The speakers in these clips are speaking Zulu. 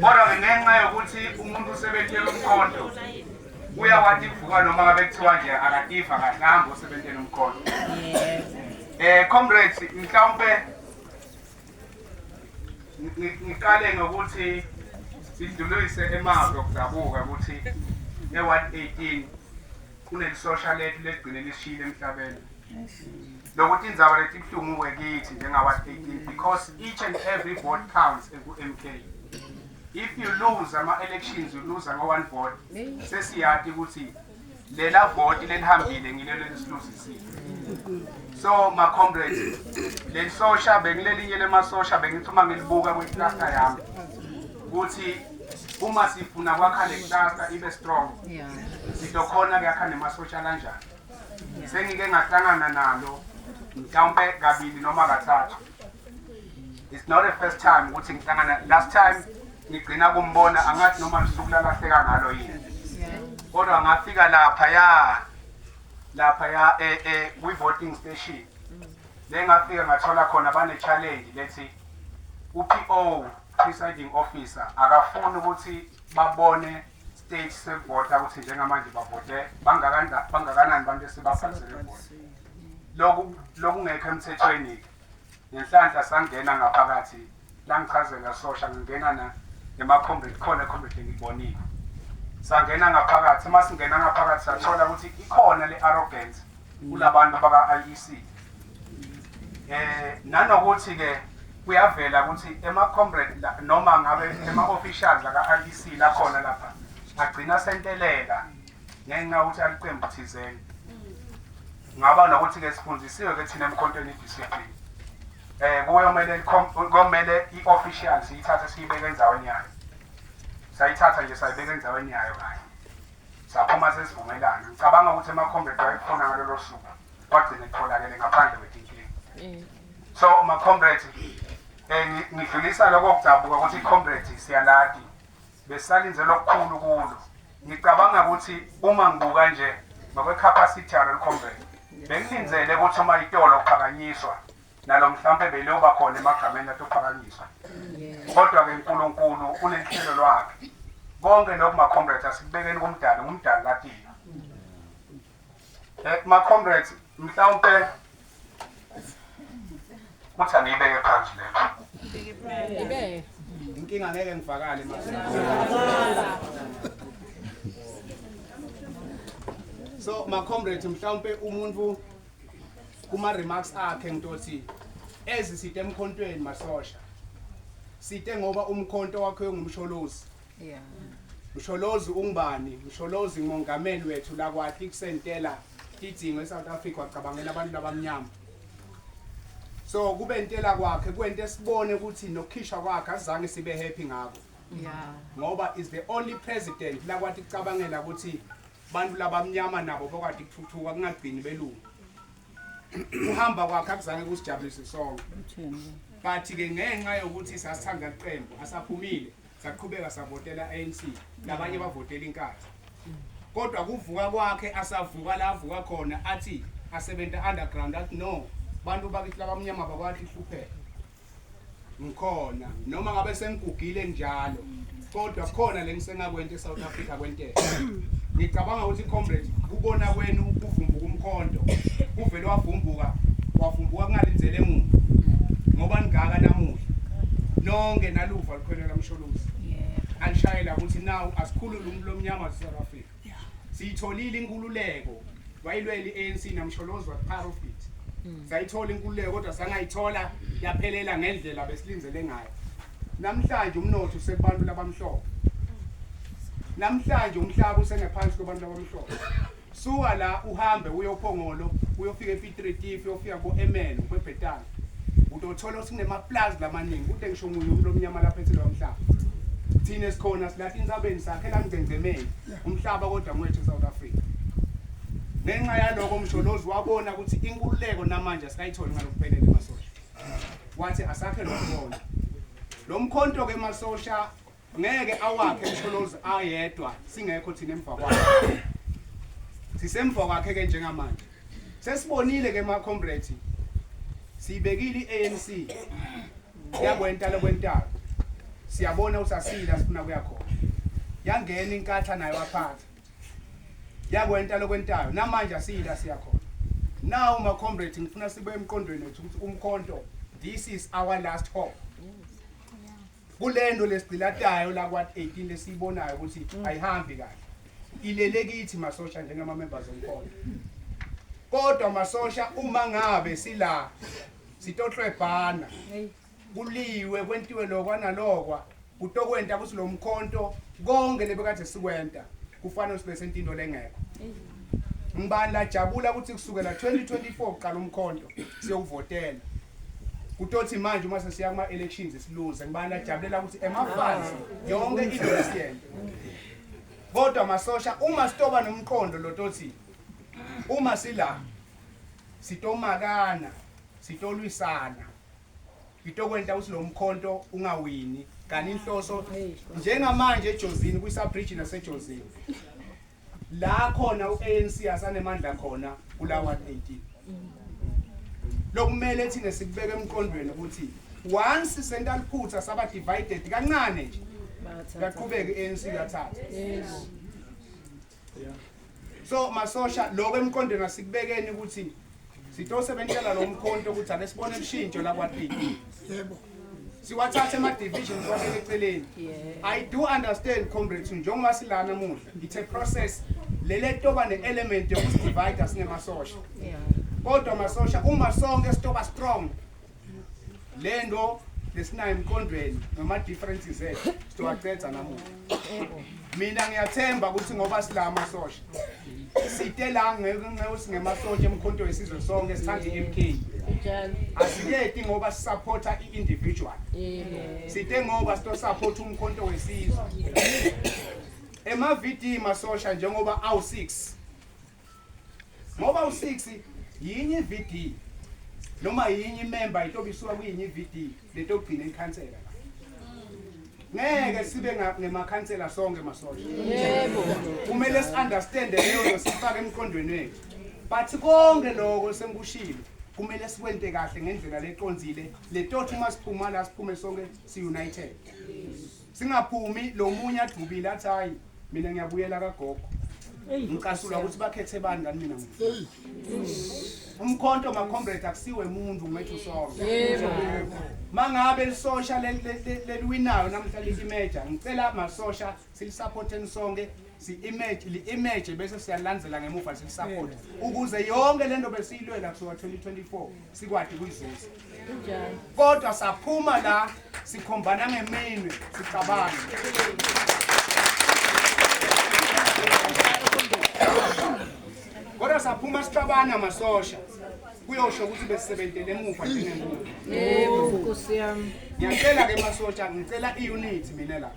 kodwa-ke ngenxa yokuthi umuntu usebenzela umkhonto uyawati kuvuka noma ngabe kuthiwa nje akativa kahle ahambe osebenzela umkhonto um comrades mhlawumpe ngiqale ngokuthi sidlulise emazwi okudabuka ukuthi ne-118 kunelisosha lethu legcine lishile emhlabeni nokuthi indzaba lethi ibuhlungu kuwe kithi njengawa-18 because each and every vote counts eku-m k if you lose ama-elections uluza ngo-one vote sesiyati ukuthi lela voti lelihambile ngilelo elisiluzisile so ma-comrades lelisosha bengilelinye lemasosha bengithi uma ngilibuka kwiklasta yami ukuthi uma sifuna kwakha le klasta ibe strong sizokhona kuyakha nemasosha kanjani sengike ngahlangana nalo mhlawumpe kabili noma kathathu it's not the first time ukuthi ngihlangana last time ngigcina kumbona angathi noma lusuku lalahleka ngalo yini kodwa ngafika lapha ya lapha ya eh eh kwi voting station lengafika ngathola khona bane challenge lethi uPO presiding officer akafuni ukuthi babone stage sevota ukuthi njengamanje bavote bangakanani abantu esibabhalisele vota lokungekho emthethweni-ke ngenhlanhla sangena ngaphakathi langichazela sosha ngingena na emakhombeni khona ekhombeni ngibonile sangena ngaphakathi uma singena ngaphakathi sathola ukuthi ikhona le-arrogance kulabantu abaka-IEC eh nanokuthi ke kuyavela ukuthi ema-comrade noma ngabe ema-officials aka-IEC lakhona lapha agcina sentelela ngenxa yokuthi aliqembu thizeni ngaba nokuthi-ke sifundisiwe-ke thina emkhontweni idiscipline um kuyomele komele i-official siyithathe siyibeke endaweni yayo sayithatha nje sayibeka endaweni yayo kanye Saphuma sesivumelana. Ngicabanga ukuthi emaComrade wayekufuna ngalolo suku. Kwagcina kutholakele ngaphandle kwetinkinga. Mm. So maComrade eh ngidlulisa lokho kudabuka ukuthi iComrade siyaladi. Besalinze lokukhulu kulo. Ngicabanga ukuthi uma ngibuka nje ngokwe capacity yalo comrade. Bengilinzele ukuthi uma itolo kuphakanyiswa nalo mhlawumbe beloba khona emagameni atophakanyiswa kodwa-ke nkulunkulu unenhlelo lwakhe konke lokhu ma-comrades asikubekeni kumdali ngumdali kathina um ma-comrades mhlawumpe kuthi angiyibeke phansi lelo inkinga ngeke ngifakale so ma-comrades mhlawumpe umuntu kuma remarks akhe ngitothi ezi site emkhontweni masosha site ngoba umkhonto wakhe ungumsholozi yeah msholozi ungubani msholozi ngongameli wethu la kwathi kusentela idingo eSouth Africa wacabangela abantu abamnyama so kube intela kwakhe kwento esibone ukuthi nokhishwa kwakhe azange sibe happy ngako yeah ngoba is the only president la kwathi kucabangela ukuthi abantu labamnyama nabo bakwadi kuthuthuka kungagcini belungu uhamba kwakhe akuzange kusijabulise sonke but-ke ngenxa yokuthi sasithanda liqembu asaphumile saqhubeka savotela anc labanye bavotela inkathi kodwa kuvuka kwakhe asavuka la avuka khona athi asebenta underground athi no bantu bakithi labamnyama bakwathi hlupheka ngikhona noma ngabe sengigugile njalo kodwa khona lengisengakwenza eSouth Africa kwentela ngicabanga ukuthi comrade kubona kwenu kuvumbuka umkhondo kuvele wavumbuka wavumbuka kungalinzele muntu ngoba ningaka namuhla nonke naluva lukhwelwe kamsholozi alishayela ukuthi nawu asikhulule umuntu lomnyama waseSouth Africa siyitholile inkululeko wayilwela i-anc namsholozi wakuparofit hmm. sayithola inkululeko kodwa sangayithola yaphelela ngendlela besilindele ngayo namhlanje umnotho usekubantu labamhlophe namhlanje umhlaba usengephansi kwabantu labamhlophe suka la uhambe uyophongolo uyofika epitritifi uyofika ko-emene kwebhetana utothola sinemaplazi lamaningi kude ngisho munye umuntu omnyama lapha ethile wamhlaba thina esikhona silathi insabeni sakhe langcengcemeni umhlaba kodwa mwethu South Africa ngenxa yaloko umsholozi wabona ukuthi inkululeko namanje asikayitholi ngalokuphelele masosha wathi asakhe lokubona lo mkhonto ke masosha ngeke awakhe msholozi ayedwa singekho thina emva kwakhe sisemva kwakhe ke njengamanje sesibonile ke ma comrade siyibekile iANC yakwenta lokwentaba siyabona usasila sifuna kuya khona yangena inkatha nayo aphatha yakwenta lokwentayo namanje asiyila siya khona now ma comrade ngifuna sibe emqondweni wethu ukuthi umkhonto this is our last hope kulento lesigcilatayo lakwa 18 lesiyibonayo ukuthi mm. ayihambi kahle ilele kithi masosha njengama members omkhonto kodwa masosha uma ngabe sila sitohlwebhana kuliwe kwentiwe lokwa nalokwa kutokwenta ukuthi lo mkhonto konke lebekade sikwenta kufanele sibe sentinto lengekho ngibani lajabula ukuthi kusukela 2024 uqala umkhonto siyowuvotela kutothi manje uma sesiya kuma-elections siluze ngibani ajabulela ukuthi ema-fans yonke idolisiyen kodwa masosha uma sitoba nomqondo lotothi uma sila sitomakana sitolwisana ngitokwenza ukuthi lo mkhonto ungawini kanti inhloso njengamanje ejozini kwisabridge nasejozini La khona uANC asanemandla khona kula ward 18. Lokumele thina sikubeke emqondweni ukuthi once senta liphutha saba divided kancane nje. Yaqhubeka iANC yathatha. So masosha lokho emqondweni asikubekeni ukuthi sitose bentshela lo mkhonto ukuthi ake sibone ushintsho lakwatiki yebo siwathathe ama-division kwabele eceleni i do understand comrades njengoba silana muhle it's a process lele toba ne-element yokusidivide sinemasosha kodwa masosha uma sonke sitoba strong le nto lesinayo emqondweni ngama-differences ethu sizowacedza namuhla mina ngiyathemba ukuthi ngoba sila amasosha site la ngenxa singemasosha emkhonto wesizwe sonke sithanda i-m k asiketi ngoba sisaphotha i-individual site ngoba sitosaphotha umkhonto wesizwe emavidiyi masosha njengoba awu-six ngoba u-six yinye i-vd noma yinye imemba yintoba isuka kuyinye i-vd lento yokugcina ikhansela ngeke sibe ngemakhansela sonke masosha yebo kumele si-understande leyo nto sifake emqondweni wethu but konke loko sengikushilo kumele sikwente kahle ngendlela leconzile letothi uma siphuma la siphume sonke si-united singaphumi lo munye adubile athi hayi mina ngiyabuyela kagogo ngicasula ukuthi bakhethe bani kani mina umkhonto macomrade akusiwe muntu ngiwethu sonke mangabe lisosha leliwinayo namhla liyimeja ngicela masosha silisaphotheni sonke si-image li-image bese siyalandzela ngemuva silisaphote ukuze yonke le nto besiyilwela kusuka 2024 sikwati kuyizuza kodwa saphuma la sikhombana ngeminwe sicabanga kodwa saphuma sicabana masosha kuyosho ukuthi besisebenzele emuva njengemuntu yebo nkosi yami ngiyacela ke masosha ngicela iunit mina la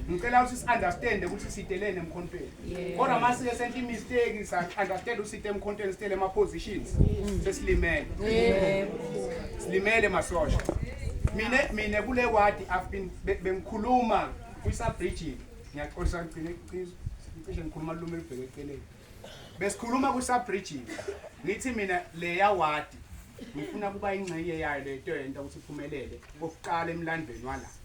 ngicela ukuthi si-understande ukuthi sidelene emkhontweni kodwa uma sike senhle imistake sa-understand usite emkhontweni sitele ama-positions sesilimele silimele masosha mina mina kule wadi i've been bengikhuluma kwisabridging ngiyaxolisa ngigcine iqiniso cishe ngikhuluma lume lubheke eceleni besikhuluma kwisabridging ngithi mina leya wadi ngifuna kuba ingxenye yayo lento yento ukuthi iphumelele kokuqala emlandweni walapha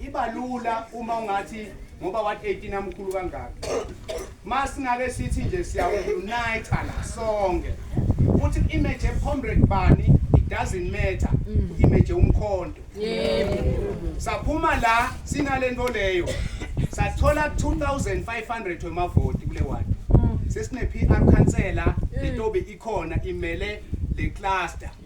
iba lula uma ungathi ngoba wathi 18 amkhulu kangaka masingake sithi nje siyaunite la sonke futhi image ephombred bani it doesn't matter mm. image umkhonto saphuma la sinalento leyo sathola 2500 wemavoti kule ward mm. sesine PR councillor letobe ikhona imele le cluster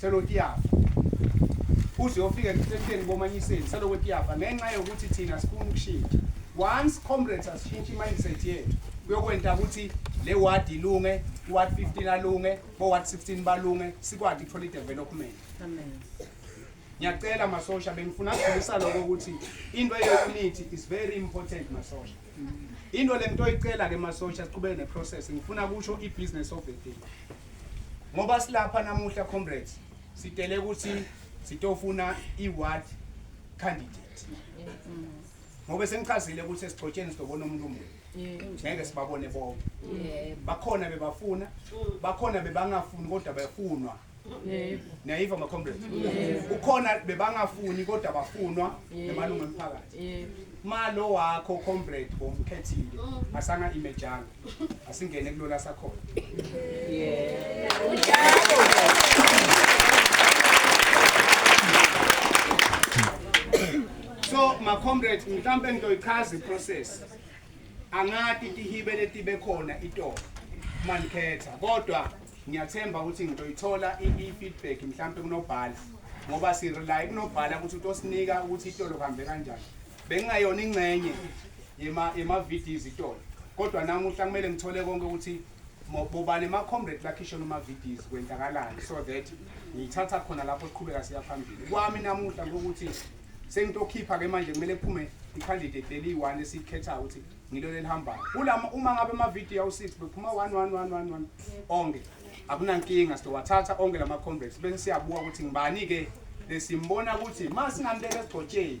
selokhu iyafa uze uyofika ekuthetheni komanyiseni selokhu iyafa ngenxa yokuthi thina sifuna ukushintsha once comrades asishintshe i-mindset yethu kuyokwenta ukuthi le ward ilunge ward 15 alunge bo-ward 16 balunge sikwazi ukuthola i-development ngiyacela masosha bengifuna kudlulisa lokho ukuthi into ye-unity is very important masosha into le nto oyicela-ke masosha siqhubeke ne-process ngifuna kusho i-business of the day ngoba silapha namuhla comrades sitele ukuthi sitofuna i-ward candidate ngoba sengichazile ukuthi esigxotsheni sizobona umuntu omunye ngeke sibabone bonke bakhona bebafuna bakhona bebangafuni kodwa befunwa niyayiva macomrade ukhona bebangafuni kodwa bafunwa emalungu emphakathi malo wakho comrade bomkhethile asanga imejanga asingene kulona sakhona so ma comrade mhlambe ngizoyichaza iprocess angati tihibe letibe khona itolo manikhetha kodwa ngiyathemba ukuthi ngizoyithola i-feedback mhlampe kunobhala ngoba sirely kunobhala ukuthi utosinika ukuthi itolo kuhambe kanjani bengingayona ingxenye yema-vds itolo kodwa namuhla kumele ngithole konke ukuthi bobane ama-comrade lakhishona uma-vds kwenzakalani so that ngiyithatha khona lapho siqhubeka siya phambili kwami namuhla ngokuthi sengitokhipha-ke manje kumele kuphume i-candidate leliyi-one esiyikhethayo ukuthi ngilo lelihambayo uma ngabe ama-video awu-six bephuma one one one one one onke akunankinga sizowathatha onke la ma-comrades bese siyabuka ukuthi ngibani-ke lesimbona ukuthi ma singambeka esigcotsheni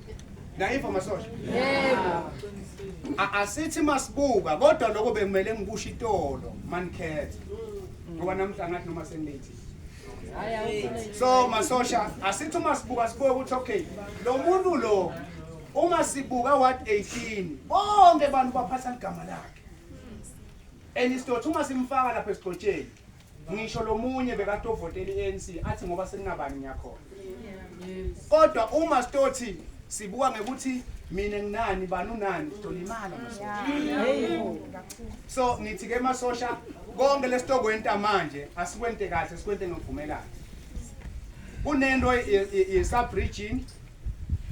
Nayiva masosha. Yebo. Asithi masibuka kodwa lokho bekumele ngikusho itolo manikhethe. Ngoba namhla ngathi noma sengithi. So masosha asithi uma sibuka sibuke ukuthi okay lo muntu lo uma sibuka ward 18 bonke abantu baphatha igama lakhe. And isitothu uma simfaka lapha esigcotsheni ngisho lomunye bekatovotela i-ANC athi ngoba sekunabani ngiyakhona kodwa uma sitothi sibuka ngekuthi mina nginani bani unani sizolimala so ngithi ke masosha konke lesitokwenta manje asikwente kahle sikwente ngokuvumelana kunento ye-subregime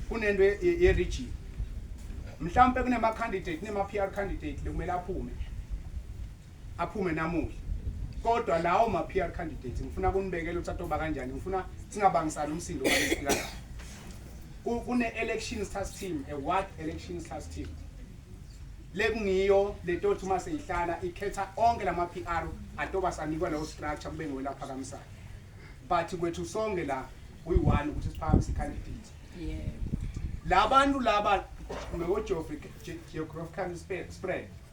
kunento ye-regime mhlawumpe kunema-candidate nema-p r candidate lekumele aphume aphume namuhla kodwa lawo ma PR candidates ngifuna kunibekele ukuthi atoba kanjani ngifuna singabangisani umsindo walesikala kune elections task team a ward elections task team lekungiyo letothi uma seyihlala ikhetha onke lama PR atoba sanikwa leyo structure kube ngiwela phakamisayo but kwethu sonke la we one ukuthi siphakamisa icandidate yeah labantu laba ngeogeographical spread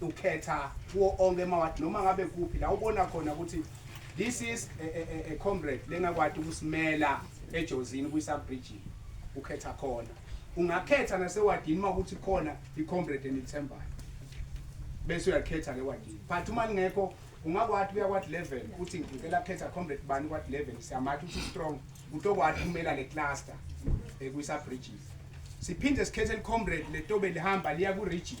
ukhetha kuwo onke emawadi noma ngabe kuphi la ubona khona ukuthi this is a, a, a, a comrade lengakwadi ukusimela ejozini kwisabridgini ukhetha khona ungakhetha nasewadini uma ukuthi khona i-comrade enithembayo bese uyakhetha lewadini but uma lingekho ungakwadi kuya kwadi level uthi ngicela khetha comrade bani kwadi level siyamatha ukuthi strong utokwadi kumela le cluster eh, kwisabridges siphinde sikhethe licomrade letobe lihamba liya ku-region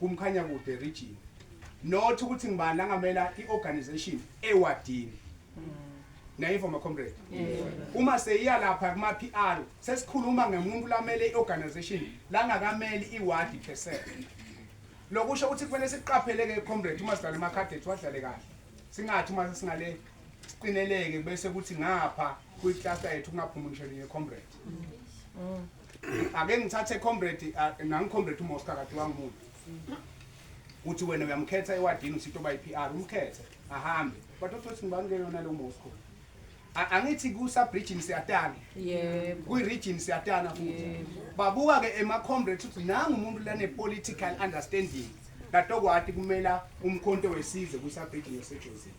kuMkhanyakude region not ukuthi ngibani angamela i-organization ewadini nayivo macomrade uma seyiya lapha kuma-p r sesikhuluma ngemuntu lamele i-organization langakameli iwadi percent lokusho ukuthi kumele siqapheleke comrade uma sidlale emacadet wadlale kahle singathi uma sesingale siqineleke bese kuthi ngapha kwi-cluster yethu kungaphumi ngisho linye comrade mm. ake ngithathe comrade nangicomrade uMosca kade wangimuntu uthi wena uyamkhetha ewadini uthi into bayi-PR umkhethe ahambe but othothi ngibani ke yona lo Mosca angithi kusa-bridgini siyatana kwi-region siyatana futhi babuka-ke ema-comrades ukuthi nangu umuntu lane-political understanding katokwati kumela umkhonto wesizwe kusa-bridgini yosejozini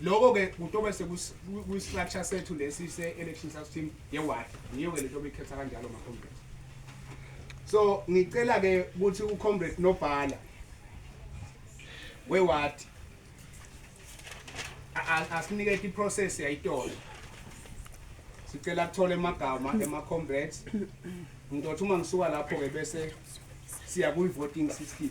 loko ke kutobe sekuyistructure sethu lesi se-election system ye-ward yiyo-ke lento obikhetha kanjalo macomrade so ngicela ke ukuthi ucomrade nobhala we-ward asinike iprocess yayitolo sicela kuthola emagama ema-comrades ngizothi uma ngisuka lapho-ke bese siya kwi-voting system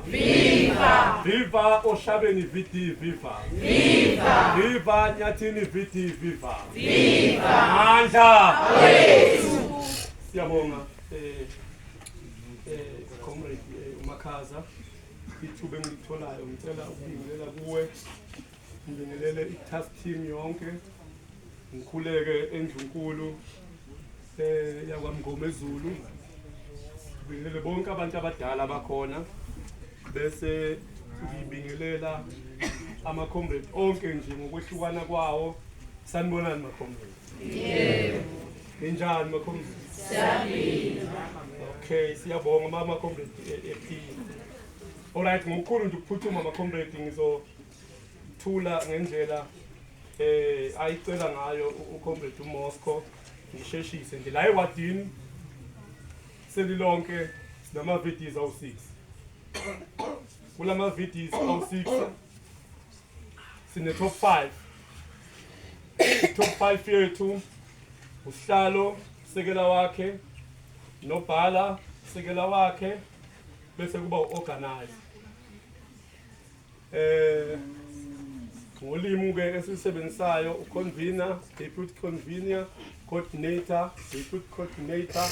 Viva! Viva Oshabeni VD Viva! Viva! Viva Nyathini VD Viva! Viva! Mandla! Awethu! Siyabonga eh eh comrade eh, uMakhaza ithuba engitholayo ngicela ukubingelela kuwe Ngibingelele i-task team yonke ngikhuleke endlunkulu eh yakwamngoma ezulu ngibingelele bonke abantu abadala bakhona bese ngibingelela ama-comrade onke nje ngokwehlukana kwawo sanibonani ma-comrade yebo ninjani ma-comrade siyaphila okay siyabonga mama-comrade ephila eh, eh, all right ngokukhulu nje ukuphuthuma ma-comrade ngizo Thula ngendlela eh ayicela ngayo ucomrade uMosco ngisheshise nje la ewadini selilonke sinama videos awu6 kulama videos awu6 sine top 5 top 5 yethu usihlalo sekela wakhe nobhala sekela wakhe bese kuba uorganize Eh ngolimi ke esisebenzisayo uconvener, deputy convener, coordinator, deputy coordinator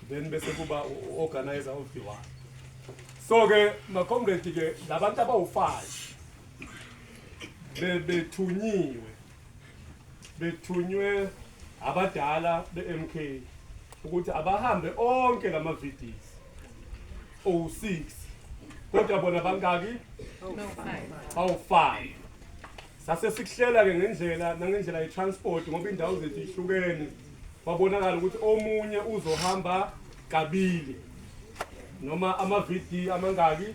then bese kuba uorganizer of the one. So ke makomredi ke labantu abawu-5 bebethunyiwe bethunywe abadala be-mk ukuthi abahambe onke la mavidiyo owu-6 kodwa bona bangaki awu-5 sase sikuhlela-ke ngendlela nangendlela ye-transport ngoba iy'ndawo zethu ihlukene kwabonakala ukuthi omunye uzohamba kabili noma ama-vd amangaki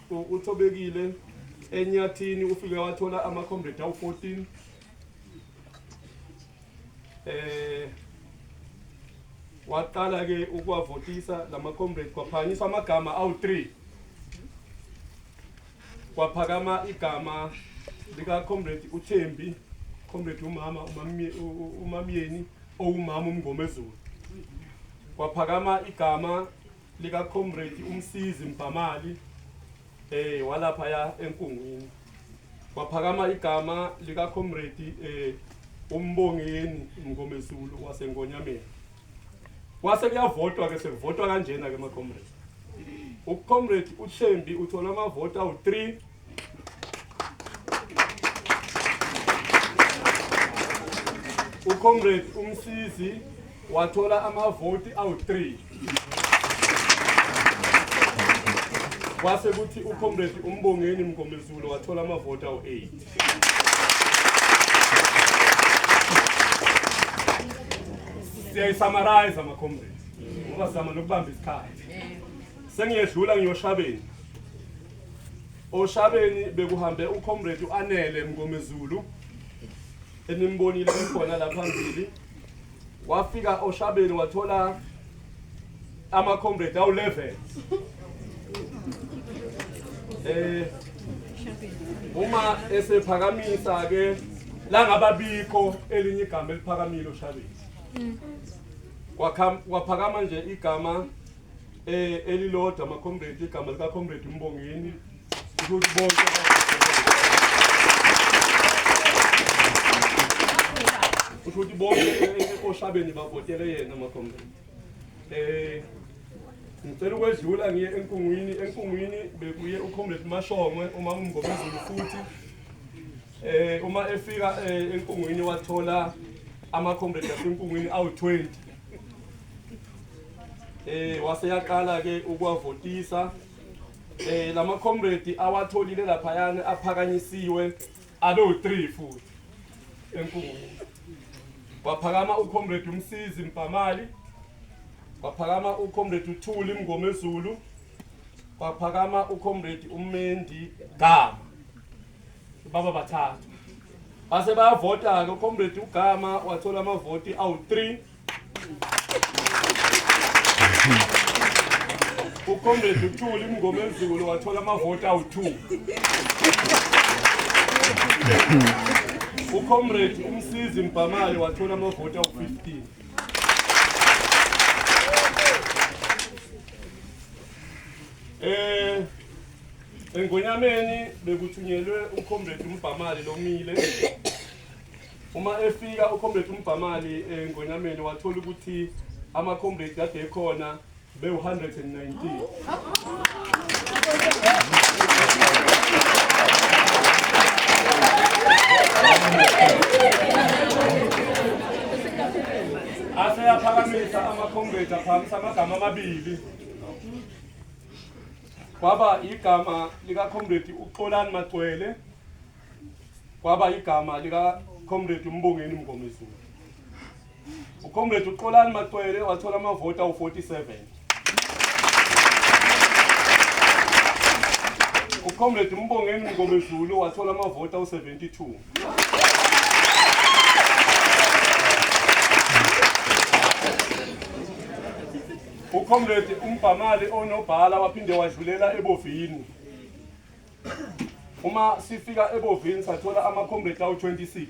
uthobekile enyathini ufike wathola ama-comrade awu-14 eh waqala ke ukuwavotisa lama comrade kwaphakanyiswa amagama awu-3 kwaphakama igama lika comrade uThembi comrade umama umamyeni owumama umngomezulu kwaphakama igama lika comrade umsizi Mbhamali eh walapha ya enkungwini kwaphakama igama lika comrade eh umbongeni mngomezulu wasengonyameni kwase kuyavotwa ke sekuvotwa kanjena ke ma comrade ucomrade uThembi uthola amavoti awu3 ucomrade umsisi wathola amavoti awu-3 kwase kuthi ucomrade umbongeni mngomezulu wathola amavoti awu-8 siyayisamarize amacomrade ngoba sizama nokubamba isikhathi sengiyedlula ngiyoshabeni Oshabeni bekuhambe uComrade uAnele Mngomezulu enimbonile khona la phambili wafika oshabeni wathola ama comrade awu 11 eh uma esephakamisa ke la ngababikho elinye igama eliphakamile oshabeni kwaphakama nje igama eh elilodwa ama comrade igama lika comrade Mbongeni ukuthi bonke ukuthi bonke oshabeni bavotele yena ama comrade eh ngicela ukwedlula ngiye enkungwini enkungwini bekuye ucomrade Mashongwe uma umngomezulu futhi eh uma efika eh, enkungwini wathola ama comrade asenkungwini awu 20 eh wase yaqala ke ukwavotisa eh lama comrade awatholile lapha yani aphakanyisiwe abe u3 futhi enkulu waphakama ucomrade umsizi mpamali waphakama ucomrade uthuli mngomezulu waphakama ucomrade umendi gama baba bathathu base bayavota-ke ucomrade ugama wathola amavoti awu-three ucomrade uthuli mngomezulu wathola amavoti awu-two ucomrade umsizi mbhamali wathola amavoti awu-fifteen Engonyameni bekuthunyelwe uComrade uMbhamali lomile. Uma efika uComrade uMbhamali engonyameni wathola ukuthi ama-comrade kade ekhona bewu-119. aseyaphakamisa ama-comrade aphakamisa amagama amabili kwaba igama likaComrade uXolani Magcwele kwaba igama likaComrade uMbongeni Mngomezulu uComrade uXolani Magcwele wathola amavoti awu-47 uComrade uMbongeni Mngomezulu wathola amavoti awu-72 Thank you. UComrade uMbhamali onobhala waphinde wadlulela eBovini. Uma sifika eBovini sathola ama-comrade awu-26.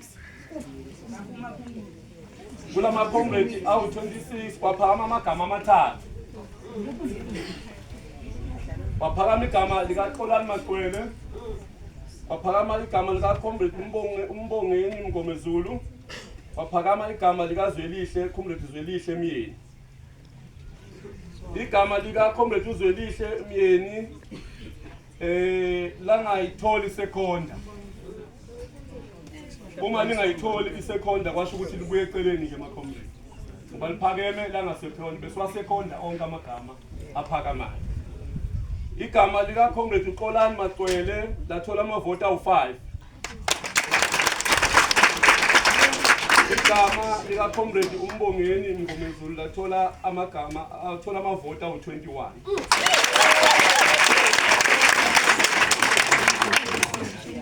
Kula ma-comrade awu-26 kwaphakama amagama amathathu. Kwaphakama igama likaXolani Maqwele. Kwaphakama igama likaComrade uMbonge uMbongeni Mngomezulu. Kwaphakama igama likaZwelihle, Comrade Zwelihle Myeni. igama lika comrade uzwelihle myeni eh langayitholi sekhonda uma lingayitholi isekhonda kwasho ukuthi libuye eceleni ke makhomrade ngoba liphakeme langasephoni besiwasekhonda onke amagama aphakamayo igama likakhomrade uxolani macwele lathola amavoti awu-five igama likacomrade umbongeni mngomezulu lathola amagama athola amavoti awu-21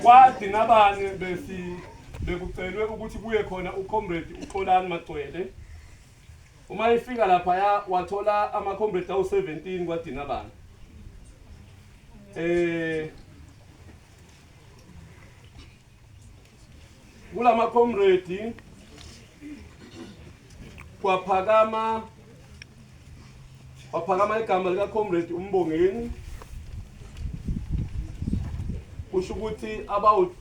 kwadi nabanye besi bekucelwe ukuthi kuye khona ucomrade uxolani macwele uma efika laphaya wathola amacomrade awu-17 kwadinabana um eh, kula makhomredi kwaphakama kwaphakama igama likakhomredi umbongeni kusho ukuthi abawu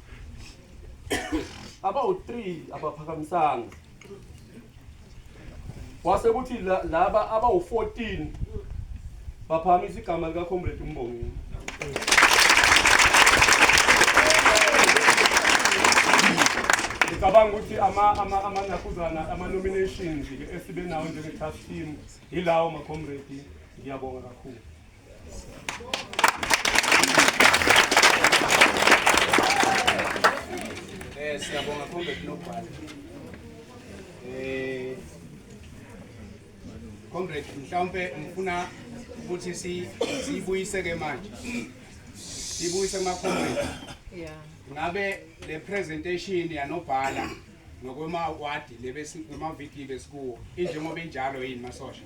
abawu-three abaphakamisanga kwase kuthi la- laba abawu-14 baphakamisa igama likacomrade umbongeni ngicabanga ukuthi ama- ama- amanakuzana ama-nominations-ke esibe nawo njenge-task team yilawo macomrade ngiyabonga kakhulu Eh siyabonga khombe kunobhala. Eh Comrade mhlawumbe ngifuna ukuthi si sibuyise ke manje. Sibuyise kuma comrade. Yeah. Ngabe le presentation yanobhala ngokwema wadi lebesi kuma VT besikuwo injengoba injalo yini masosha?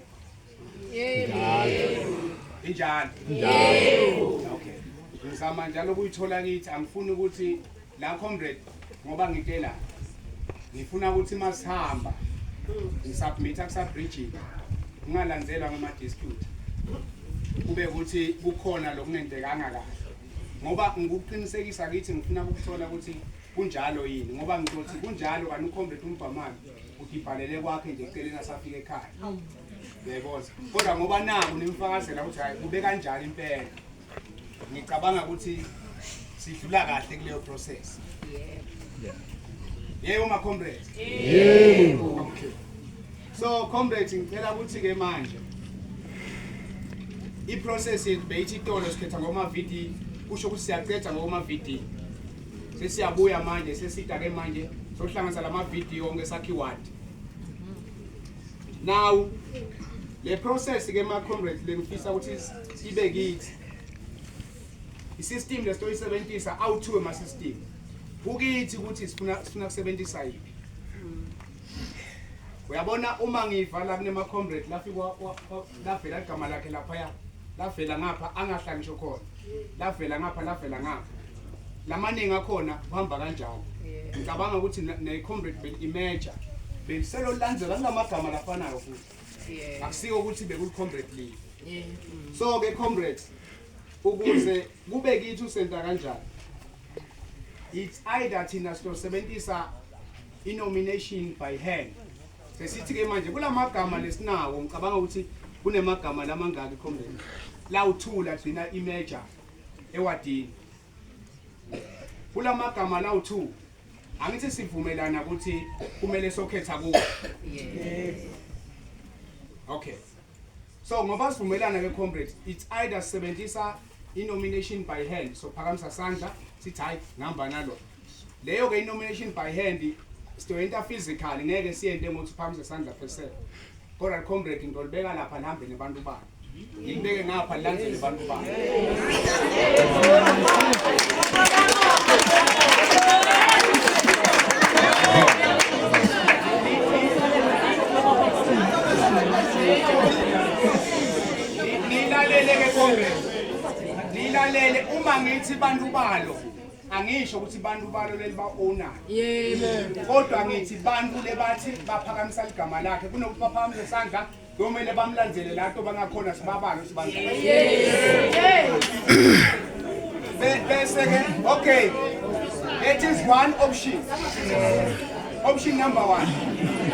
injalo okay ngizama njalo ukuyithola kithi angifuni ukuthi la comrade ngoba ngitela ngifuna ukuthi masihamba ngisubmit akusa bridging ungalandzelwa ngama dispute kube ukuthi kukhona lokungentekanga kahle ngoba ngikuqinisekisa kithi ngifuna ukuthola ukuthi kunjalo yini ngoba ngizothi kunjalo kanti ucomrade umbhamami udibhalele kwakhe nje eceleni asafika ekhaya bekoza kodwa ngoba naku nimfakazela ukuthi hayi kube kanjalo impela ngicabanga ukuthi sidlula kahle kuleyo process yebo ma comrades yebo okay so comrades ngicela ukuthi ke manje i process yethu beyithi itolo sikhetha ngoma VD kusho ukuthi siyaqeda ngoma VD sesiyabuya manje sesida ke manje sohlanganisa lama video onke sakhiwad now le process ke ma comrades lengifisa ukuthi ibe kithi i system lestoyisebenzisa awuthiwe ma system kukithi ukuthi sifuna sifuna kusebenzisa yini uyabona uma ngivala kunema comrade lafikwa lavela igama lakhe laphaya lavela ngapha angahlali ngisho khona lavela ngapha lavela ngapha lamaningi akhona kuhamba kanjalo ngicabanga ukuthi ne-comrade beli-imeja beliselolandzela kulamagama lafanayo futhi akusiko ukuthi bekuli-comrade league mm. so-ke comrade ukuze kube kithi usenta kanjani it's either thina sizosebenzisa i-nomination by hand Sesithi-ke manje kula magama lesinawo ngicabanga ukuthi kunemagama lamangaki ikhombeni lawu-two lagcina imeja ewadini kula magama lawu-two angithi sivumelana ukuthi kumele sokhetha kuwo okay so ngoba sivumelana ke comrade it's either sebenzisa i-nomination by hand sophakamisa sandla sithi hhayi ngihamba nalo Leyo ke nomination by hand siyoyenta physical ngeke siyente ngokuthi phambi sesandla phese. Kodwa comrade ngolibeka lapha nihambe nebantu bakhe. Ngibeke ngapha nilandele abantu bakhe. Nilalele ke comrade. Nilalele uma ngithi bantu balo angisho ukuthi bantu balo leli ba-ownayo kodwa ngithi bantu lebathi baphakamisa ligama lakhe kunokuthi baphakamise isandla komele bamlandzele la nto bangakhona sibabalo sibabese-ke okay that is one option option number one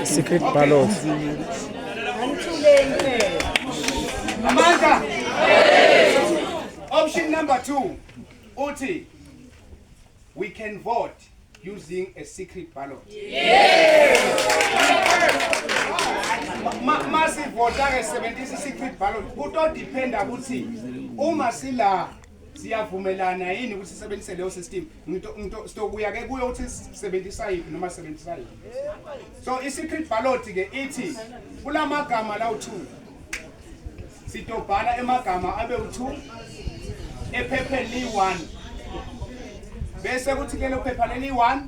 secret okay. ballot amandla option number two uthi we can vote using a secret ballot masivota-ke sebenzisa i-secret ballot kutodiphenda ukuthi uma sila siyavumelana yini ukuthi sisebenzise leyo system sitokuya-ke kuyo ukuthi sisebenzisa yiphi noma sisebenzisa yiphi so i-secret ballot-ke ithi kula magama lawu-two Sitobhala emagama abe u2 ephepheni liyi1. Bese kuthi ke lophepha leliyi1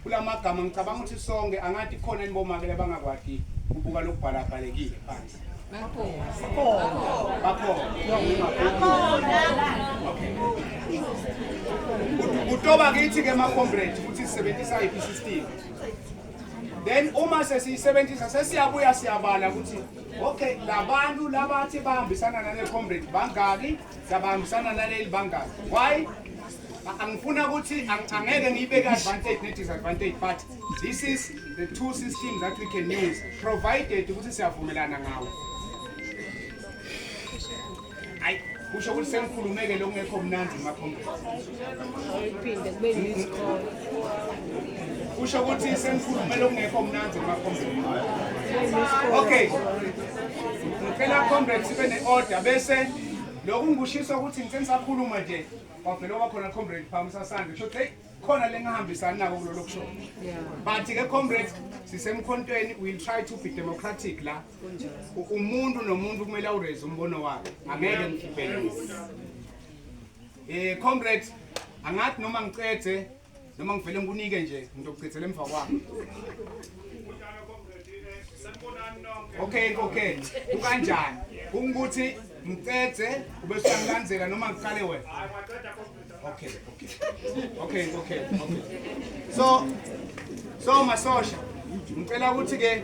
kulamagama ngicabanga ukuthi sonke angathi khona inibomake abangakwadi kubuka lokubhala bhalekile phansi. kutoba kithi ke macombrate ukuthi sisebenzisa iphi system then uma sesiyisebenzisa sesiyabuya siyabala ukuthi Okay, labantu labathi bahambisana nale comrade bangaki? Sabahambisana naleli bangaki? Why? Angifuna ukuthi angeke ngiyibeke advantage ne disadvantage but this is the two systems that we can use provided ukuthi siyavumelana ngawo. Hayi kusho ukuthi sengikhulumeke lokungekho mnandi makhombe. Ayiphinde kube yisikole. Kusho ukuthi sengikhulume lokungekho mnandi makhombe. Okay. Ngicela comrade sibe ne-order bese lokhu ngikushisa ukuthi ngithe ngisakhuluma nje wavele oba khona comrade phambi sasande kusho ukuthi khona lengahambisani nako kulolo kusho but ke comrade sisemkhontweni we'll try to be democratic la umuntu nomuntu kumele awureze umbono wakhe angeke ngibhekise eh comrade angathi noma ngicethe noma ngivele ngikunike nje ngizokugcethela emva kwakho okay okay ukanjani ukuthi ngicethe ube usangilandzela noma ngiqale wena okay okay okay okay okay so so masosha ngicela ukuthi ke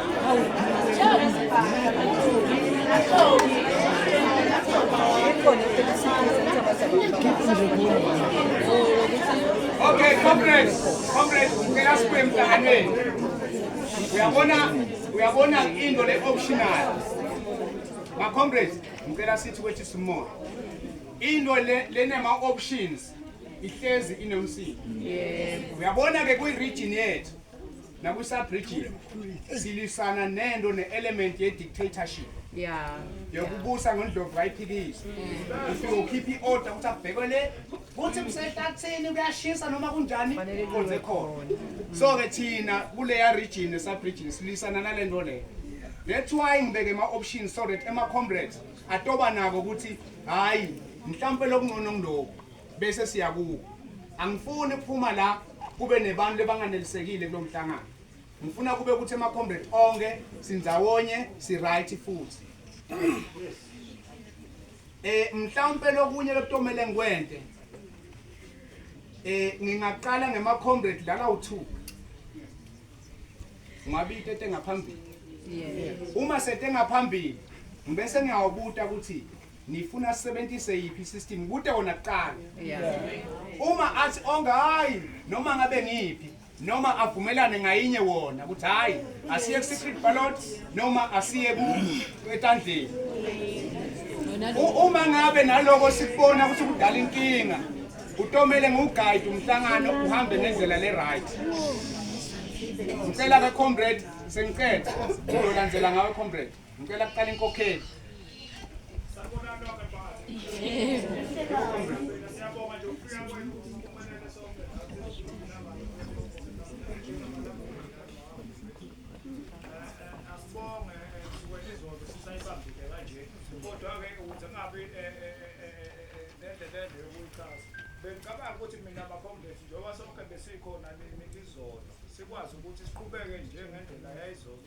Okay, comrades, comrades, ngicela sibuye emhlanganweni. Uyabona, uyabona into le optional. Ma comrades, ngicela sithi kwethi simoya. Into le lenema options ihlezi inomsini. Yebo. Uyabona ke kwi region yethu. nakusabrigil silisana nento ne-element ye-dictatorship yeah yokubusa ngondlovu kayiphikisi ufike ukhipha i-order ukuthi abhekwe le kuthi kusehlathini kuyashisa noma kunjani konze khona so-ke thina kuleya region esabridgin silisana nale nto leyo that's why ngibeke ama-options so that ema-comrades atoba nako ukuthi hhayi mhlawumpe lokungcono ngiloku bese siya kuwo angifuni kuphuma la kube nebantu lebanganelisekile kulo mhlangano ngifuna kube ukuthi ama-comrade onke sindzawonye si-right futhi um mhlawumpe lokunye lokutomele ngikwente um ngingaqala ngema-comrade lala u-two ungabita etengaphambili uma setengaphambili ngibese ngiyawubuta ukuthi nifuna sisebenzise yiphi system kute wona kuqala uma athi onga hayi noma ngabe ngiphi noma avumelane ngayinye wona ukuthi hayi asiye ku secret ballot noma asiye ku etandleni uma ngabe naloko sikubona ukuthi kudala inkinga utomele nguguide umhlangano uhambe ngendlela le right ngicela ka comrade sengicela uzolandzela ngawe comrade Ngicela kuqala inkokheli. kodwa-ke ukuze kungabi nendlelele yokuyichaza bengicabanga ukuthi mina bakhombethi njengoba sonke besikhona nini izolo sikwazi ukuthi siqhubeke njengendlela yayizolo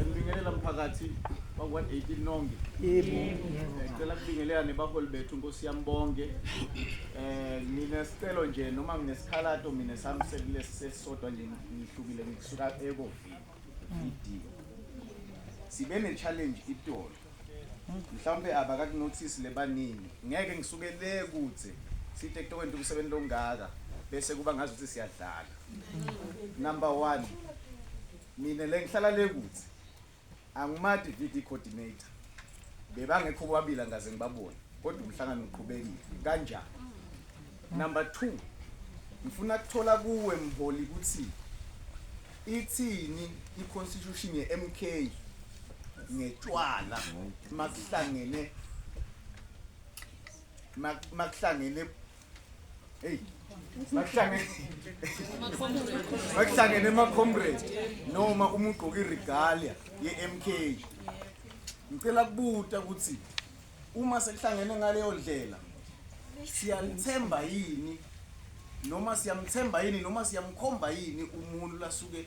Ngibingelela mphakathi wakwa 18 nonke. Ngicela kubingelela nebaholi bethu Nkosi yami bonke. Eh mina sicelo nje noma nginesikhalato mina sami sekule sesodwa nje ngihlukile ngisuka ekovini. Idiyo. Sibe ne challenge itolo. Mhlawumbe abakakunothisi lebaningi. Ngeke ngisuke le kude sithe kutokwenta umsebenzi longaka bese kuba ngazuthi siyadlala. Number 1 Mina le ngihlala le kuthi angimati VD coordinator bebangekho bobabili angaze ngibabone kodwa umhlangano uqhubekile kanjani number 2 ngifuna kuthola kuwe mholi ukuthi ithini iconstitution yeMK ngetshwala makuhlangene makuhlangene bakuhlangene emacomrade noma uma ugqoke iregalia ye-mk ngicela kubuta ukuthi uma sekuhlangene ngaleyo ndlela siyalithemba yini noma siyamthemba yini noma siyamkhomba yini umuntu lasuke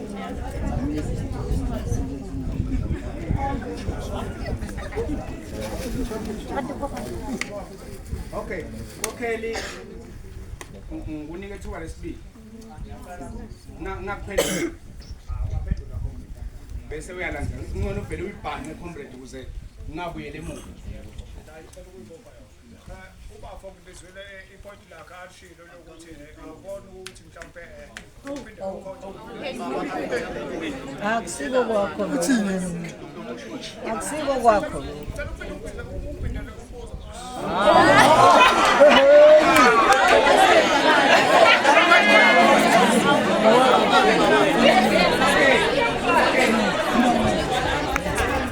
Okay, kokheli ngunike thuba lesibili. Ngakuphendula. Bese uyalandela. Ungcono uvele uyibhane comrade ukuze ngabuyele emuva. ubafo ngibizwile ipoint lakhe alishilo lokuthi awubona ukuthi mhlawumpe uphinde akusiko kwakho akusiko kwakho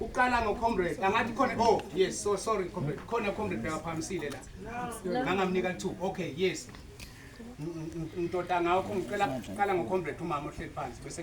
uqala ngo comrade angathi khona oh yes so sorry comrade khona comrade bekaphamisile la ngangamnika two okay yes ngitoda ngakho ngicela qala ngo comrade umama ohleli phansi bese